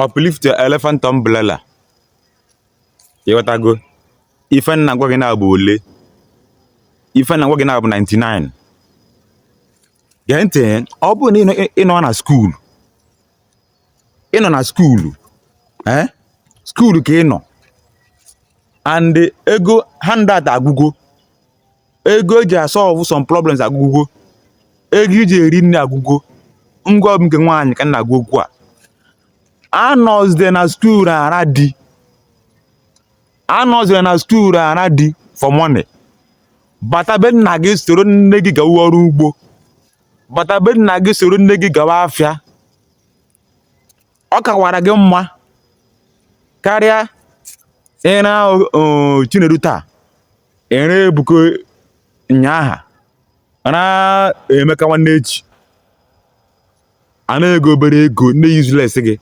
uplift your elephant umbrella ịghọtago ife m na-agwa gị na-abụ ole ife m na-agwa gị na-abụ 99 gee ntị ọ bụrụ na ịnọ na skuul ịnọ na skuulu ee eh? skuulu ka ị nọ and ego handout agwụgo ego eji asolve some problems agwụgo ego iji eri nri agwụgo ngwa ọ bụ nke nwaanyị ka m na-agwa okwu a anọzide na skuul ara di anọzide na skuul ara di for money bata be nna gị soro nne gị gawa ọrụ ugbo bata be nna gị soro nne gị gawa afịa ọ kawara gị mma karịa ịra Chinedu taa ịra Ebuka nyaha ra Emeka nwanne echi a na-enye gị obere ego na useless gị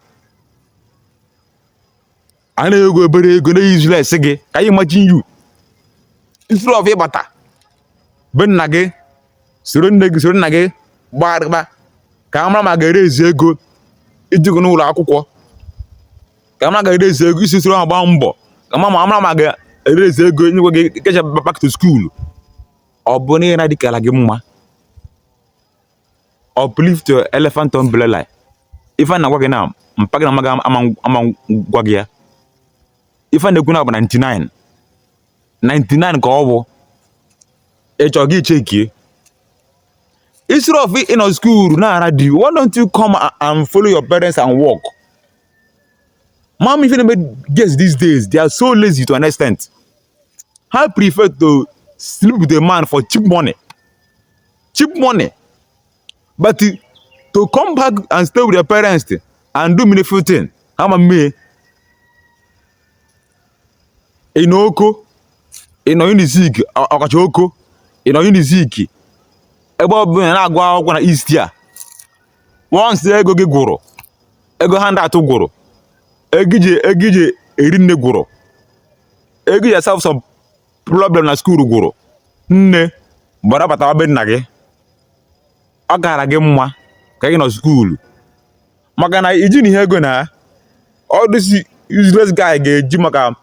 a na-enye gị obere ego na useless gị can you imagine you instead of ịbata be nna gị soro nne gị soro nna gị gbagharịba ka a mara ma ga-erezi ego iji ga n'ụlọ akwụkwọ ka a mara ga-erezi ego isi soro ha gbaa mbọ ka a mara ma ga-erezi ego nyekwa gị kecha back to school ọ bụ na ịra di kala gị mma uplift your elephant umbrella ife m na-agwa gị na mpa gị na mma gị ama agwa gị ya ife m na-ekwu na-abụ 99 99 ka ọ bụ ịchọ gị chekie instead of ịnọ school na-ara di why don't you come and follow your parents and work mom if you never girls these days they are so lazy to an extent they prefer to sleep with a man for cheap money cheap money but to come back and stay with your parents and do meaningful thing ha ama eme ị nọ Oko ị nọ Unizik ọkacha Oko ị nọ Unizik ebe ọ bụla na-agụ akwụkwọ na east a once ego gị gwụrụ ego hand out gwụrụ ego iji ego iji eri nri gwụrụ ego iji solve problem na skuul gwụrụ nne gbara batawa be nna gị ọ kara gị mma ka gị nọ skuulu maka na iji na ihe ego na all these useless guy ga-eji maka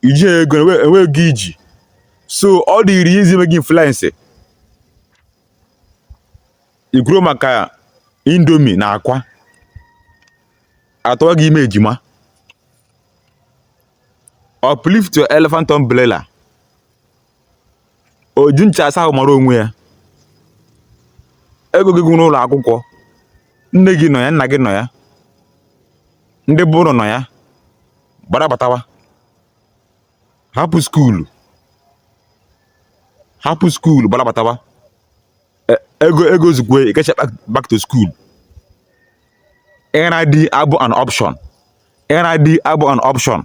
iji ego enwe ego iji so ọ dịrị ya easy ime gị influence ikwuru maka Indomie na akwa a tụwa gị ime ejima uplift your elephant umbrella oji ncha asa ahụ mara onwe ya ego gị gwụ n'ụlọ akwụkwọ nne gị nọ ya nna gị nọ ya ndị be unu nọ ya gbara batawa hapụ skuulu hapụ skuulu gbara batawa e, ego ego zukwe ịkacha back to school ịghara di abụ an option ịghara di abụ an option